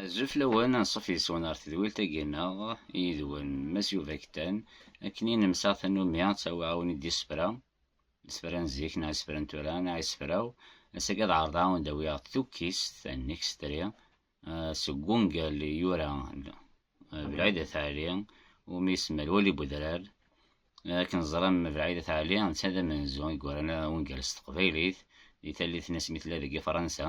Azul fell-awen, anṣuf yes-wen ɣer tedwilt-agi-nneɣ yid-wen Mass Yuba Kettan, akken i nemsaɣ tannumi ad tawi aɛawen-id isefra, isefra n zik neɣ isefra n tura neɣ isefra-w, ass-agi ad ɛerḍeɣ ad awen-d-awiɣ tukkist, an extrait, seg wungal yura Belɛid At Ɛli umi isemma Lwali Budrar. Akken teẓram Belɛid At Ɛli netta d amenzu i yuran ungal s teqbaylit di tallit-nnes mi tella deg Fṛansa,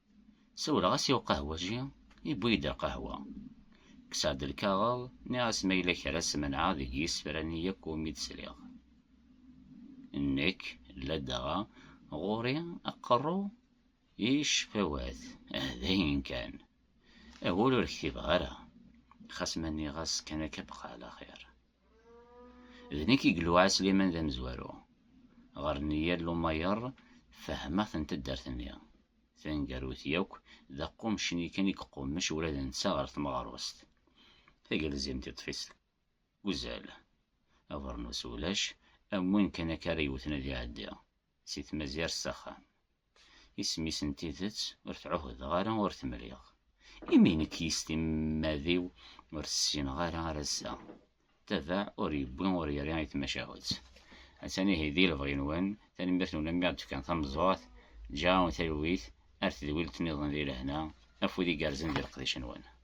Sawleɣ-as i uqahwaǧi, yewwi-yi-d lqahwa. Kkseɣ-d lkaɣeḍ, nniɣ-as ma yella kra smenɛeɣ deg yisefra-nni yakk umi d-sliɣ. Nekk, ladɣa, ɣur-i aqerru i ccfawat, ah d ayen kan! Awal ur ktibeɣ ara, xas ma nniɣ-as kan akka bqaɛlaxir. D nekk i iluɛa Sliman d amezwaru. Ɣer neyya n umayeṛ, fehmeɣ ten taddart-nni. Taneggarut yakk d aqumec-nni kan i yeqummec ula d netta ɣer tmeɣrust. Tagelzimt iṭṭef-itt deg uzal. Abernus ulac, am win kan akka ara yewten ad iɛeddi. Si tmazirt s axxam. Isem-is n tidet ur t-ɛuhdeɣ ara ur t-mliɣ. Imi nekk yis timmad-iw ur t-ssineɣ ara ar ass-a. Tabaɛ ur yewwi ur yerri i tmacahut. Attan ihi di lebɣi-nwen, tanemmirt-nwen imi aɣ-d-fkan tameẓẓuɣt, ǧǧa-awen talwit, ar tedwilt-nniḍen di lehna, afud igerrzen di leqdic-nwen.